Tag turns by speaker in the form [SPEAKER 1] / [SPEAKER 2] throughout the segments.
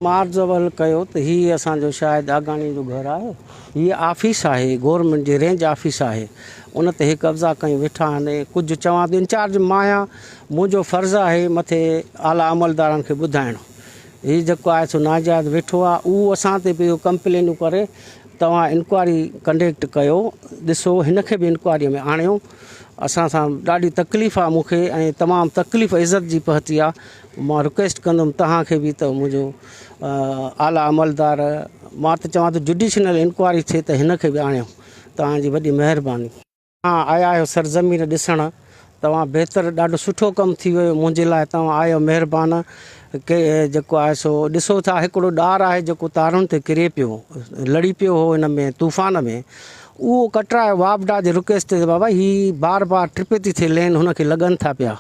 [SPEAKER 1] مار زوال ڪيو ته هي اسان جو شاهد آگاڻي جو گهر آهي. هيء آفيس آهي، گورنمينٽ جي رينج آفيس آهي. ان تي هي قبضا ڪيون ويٺا آهن. ڪجهه چوان ته انچارج مان آهيان، منهنجو فرض آهي مٿي اعليٰ عملدارن کي ٻڌائڻ. هي جيڪو آهي سو ناجائز ويٺو آهي. اهو اسان تي پيو ڪمپلينون ڪري. توهان انڪوائري ڪنڊيڪٽ ڪيو، ڏسو هن کي به انڪوائريء ۾ آڻيو. اسان سان ڏاڍي تڪليف آهي مون کي ۽ تمام تڪليف عزت جي پهتي آهي. مان رڪويسٽ ڪندم توهان کي به ته منهنجو اعليٰ عملدار مان ته چوان ٿو جڊيشنل انڪوائري ٿئي ته هن کي به آڻيو توهان جي وڏي مهرباني. توهان آيا آهيو سرزمين ڏسڻ توهان بهتر ڏاڍو سٺو ڪم ٿي ويو منهنجي لاء توهان آهيو مهربان ڪي جيڪو آهي سو ڏسو ٿا هڪڙو ڏار آهي جيڪو تارن تي ڪري پيو لڙي پيو هو ان ۾ طوفان ۾ اهو ڪٽرايو واپڊا جي رڪويسٽ تي بابا هي بار بار ٽرپي ٿي ٿي لين هن کي لڳن ٿا پيا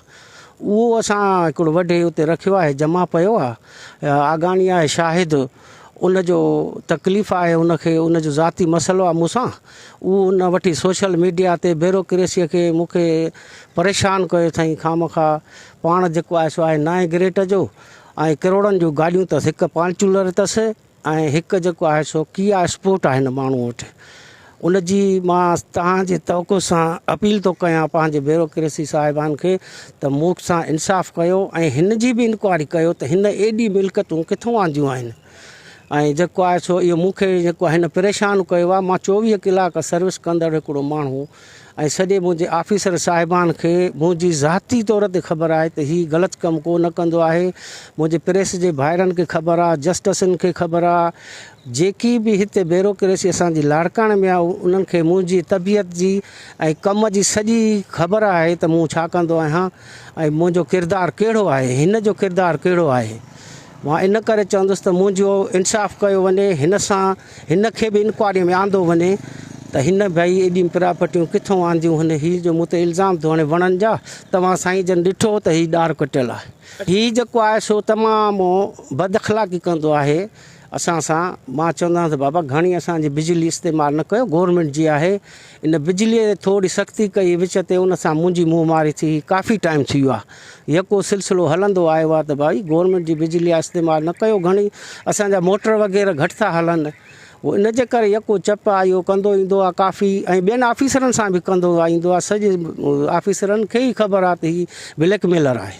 [SPEAKER 1] اهو اسان هڪڙو وڍي اتي رکيو آهي جمع پيو آ آگاڻي آهي شاهد ان جو تڪليف آهي ان کي ان جو ذاتي مسئلو آ مون سان اهو ان وٺي سوشل ميڊيا تي بيروڪريسي کي مون کي پريشان ڪيو اٿئين خامخا پاڻ جيڪو آهي سو آهي نائين گريٽ جو ۽ ڪروڙن جون گاڏيون تس هڪ پانچولر تس ۽ هڪ جيڪو آهي سو ڪيا اسپورٽ آهي هن ماڻهو وٽ ان جي مان تهان جي توقع سان اپيل ٿو ڪيان پنهنجي بيوروڪريسي صاحبان کي ته مون سان انصاف ڪيو ۽ هن جي به انڪوائري ڪيو ته هن ايڏي ملڪتون ڪٿو آنديون آهن ۽ جيڪو آهي سو اهو مون کي جيڪو آهي هن پريشان ڪيو آهي مان چوويهه ڪلاڪ سروس ڪندڙ هڪڙو ماڻهو ۽ سڄي منهنجي آفيسر صاحبان کي منهنجي ذاتي طور تي خبر آهي ته هي غلط ڪم ڪو نه ڪندو آهي. منهنجي پريس جي ڀائرن کي خبر آهي، جسٽسن کي خبر آهي، جيڪي به هتي بيروڪريسي اسان جي لاڙڪاڻي ۾ آهي انهن کي منهنجي طبيعت جي ۽ ڪم جي سڄي خبر آهي ته مون ڇا ڪندو آهيان ۽ منهنجو ڪردار ڪهڙو آهي، هن جو ڪردار ڪهڙو آهي. مان ان ڪري چوندس ته منهنجو انصاف ڪيو وڃي، هن سان هن کي به انڪوائريء ۾ آندو وڃي ته هن ڀئي ايڏيون پراپرٽيون ڪٿون آنديون هن هي جو مون تي الزام ٿو هڻي وڻن جا توهان سائين جن ڏٺو ته هي ڏار ڪٽيل آهي هي جيڪو آهي سو تمام بد اخلاقي ڪندو آهي اسان سان مان چوندو آهيان ته بابا گهڻي اسان جي بجلي استعمال نه ڪيو گورنمينٽ جي آهي ان بجليء تي ٿوري سختي ڪئي وچ تي ان سان منهنجي منهن ماري ٿي هئي ڪافي ٽائيم ٿي ويو آهي يڪو سلسلو هلندو آيو آهي ته ڀائي گورنمينٽ جي بجلي آهي استعمال نه ڪيو گهڻي اسان جا موٽر وغيره گهٽ ٿا هلن هو ان جي ڪري يڪو چپ آهي اهو ڪندو ايندو آهي ڪافي ۽ ٻين آفيسرن سان به ڪندو ايندو آهي سڄي آفيسرن کي ئي خبر آهي ته هي بليڪ ميلر آهي.